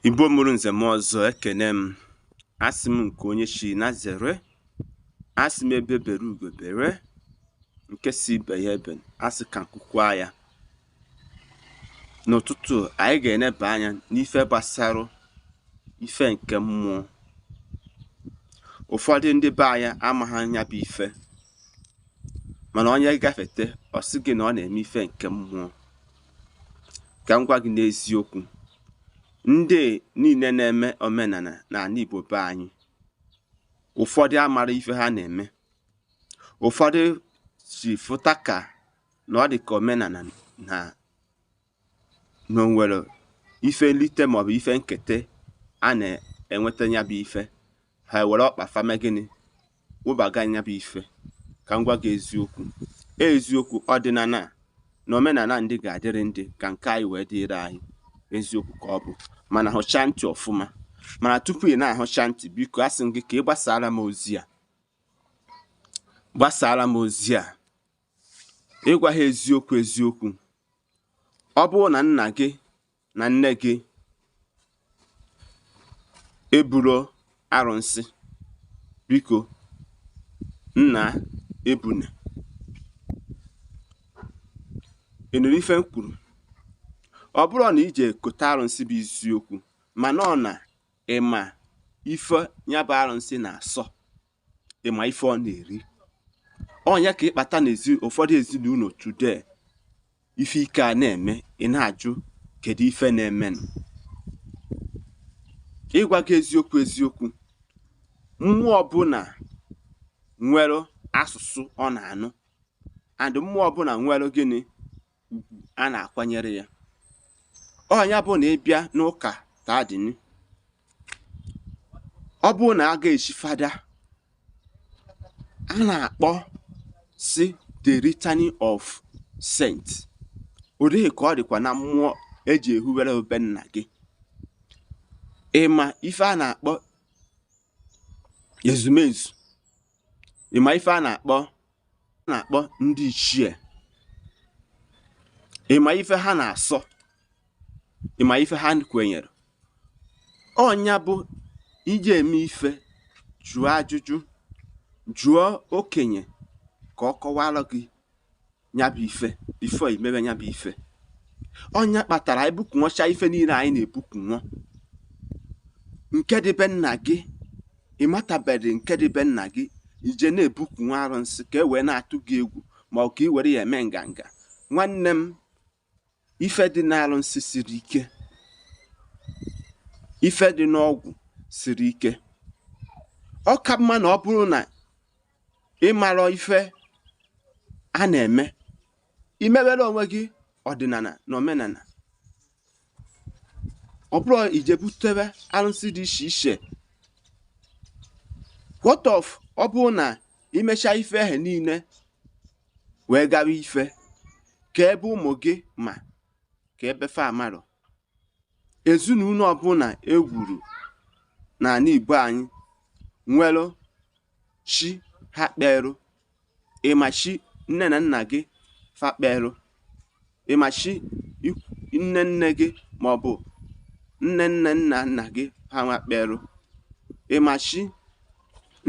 Igbo mụrụ nze mụọ ọzọ ekene m asị m nke onye chi nya zere asị m egbe bere ugo bere nke sị ibe ya ebena asị ka nku kwaa ya n'ụtụtụ a anyị ga-eneba anya n'ife gbasara ife nke mmụọ ụfọdụ ndị be anyị amaghị nya bụ ife mana onye gafete ọ sị gị na ọ na-eme ife nke mmụọ ka m gwa gị n'eziokwu ndị niile na-eme omenala n'ala Igbo be anyị ụfọdụ amara ife ha na-eme ụfọdụ si fụta ka na ọ dị ka omenala na o nwere ife nlite maọbụ ife nketa a na-enweta ya bụ ife ha were ọkpa fa mee gịnị wụbaga nya bụ ife ka m gwa gị eziokwu eziokwu ọdịnala na omenala ndị ga-adịrị ndị ka nke anyị wee dịrị anyị eziokwu ka ọ bụ mana hụchaa ntị ọfụma mana tupu ị na-ahụcha ntị biko asị m gị ka ị gbasaara m ozi a ịgwa ha eziokwu eziokwu ọ bụrụ na nna gị na nne gị eburo arụsị biko nna ebune ị nụrụ ife m kwuru ọ bụrọ na ije kote arụsị bụ isiokwu mana ọ na ịma ife ya bụ arụsị na-asọ ịma ife ọ na-eri ọ nya ka ịkpata na ụfọdụ ezinụlọ today ife ike a na-eme ị na-ajụ kedu ife na-emenụ ịgwa gị eziokwu eziokwu mmụọ ọbụla nwere asụsụ ọ na-anụ and mmụọ ọbụla nwere gịnị ugwu a na-akwanyere ya ọ nya bụ na ịbịa n'ụka taa dịnụ ọ bụrụ na a ga-echi fada a na-akpọ sị the litany of saint otu ahụ ka ọ dịkwa na mmụọ eji ehuwere obi nna gị ịma ife a na-akpọ ezumezu ịma ife a na-akpọ na-akpọ ndị ichie ịma ife ha na-asọ ịma ife ha kwenyere ọ nya bụ ị je-eme ife jụọ ajụjụ jụọ okenye ka ọ kọwara gị nyabụ ife before ị mebe nyabụ ife ọ nya kpatara ebukunwọcha ife niile anyị na-ebukunwọ nke dị be nna gị ị matabedị nke dị be nna gị i je na-ebukwu nwa arụsị ka e wee na-atụ gị egwu ma ọ ka i were ya eme nganga nwanne m ife dị n'arụsị siri ike ife dị n'ọgwụ siri ike ọ ka mma na ọ bụrụ na ị mara ife a na-eme i mewere onwe gị ọdịnala na omenala ọ bụrụ i je butebe arụsị dị iche iche what of ọ bụrụ na i mechaa ife ahụ niile wee gawa ife ka ebe ụmụ gị ma ka ebe fa amarọ ezinụlọ ọbụla e wuru n'ala Igbo anyị nwere chi ha kperụ ị ma chi nne na nna gị fa kperụ ị ma chi nne nne gị maọbụ nne nne nna nna gị ha nwa kperụ ị ma chi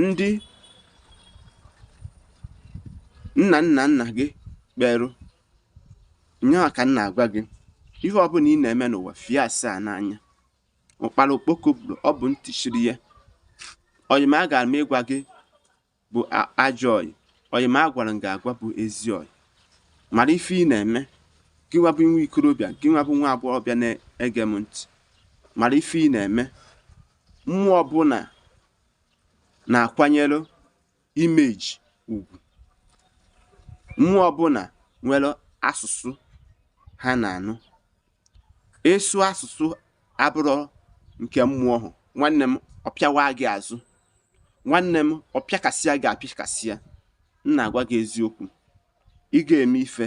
ndị nna nna nna gị kperụ nya nwa ka m na-agwa gị ihe ọbụla ị na-eme n'ụwa fie asaa n'anya ụkpara okpoko buru ọ bụ ntị chiri ya ọyị m agara m ịgwa gị bụ ajọ ọyị ọyị m agwara m gị agwa bụ ezi ọyị mara ife ị na-eme gị nwa bụ nwa ikorobịa gị nwa bụ nwa agbọghọbịa na-ege m ntị mara ife ị na-eme mmụọ ọbụla na-akwanyere imeji ugwu mmụọ ọbụla nwere asụsụ ha na-anụ ị sụọ asụsụ abụrọ nke mmụọ ahụ nwanne m ọ pịawa gị azụ nwanne m ọ pịakasịa gị apịakasịa m na-agwa gị eziokwu ị ga-eme ife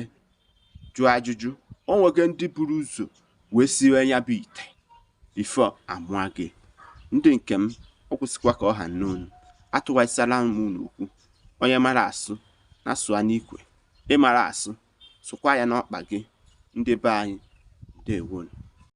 jụọ ajụjụ o nwego ndị buru ụzọ wee siwe ya bụ ite before a mụa gị ndị nke m ọ kwụsịkwa ka ọ ha n'onu atụwasịala m n'okwu onye mara asụ nya sụa n'ikwe ị marọ asụ sụkwaa ya n'ọkpa gị ndị be anyị ndewonụ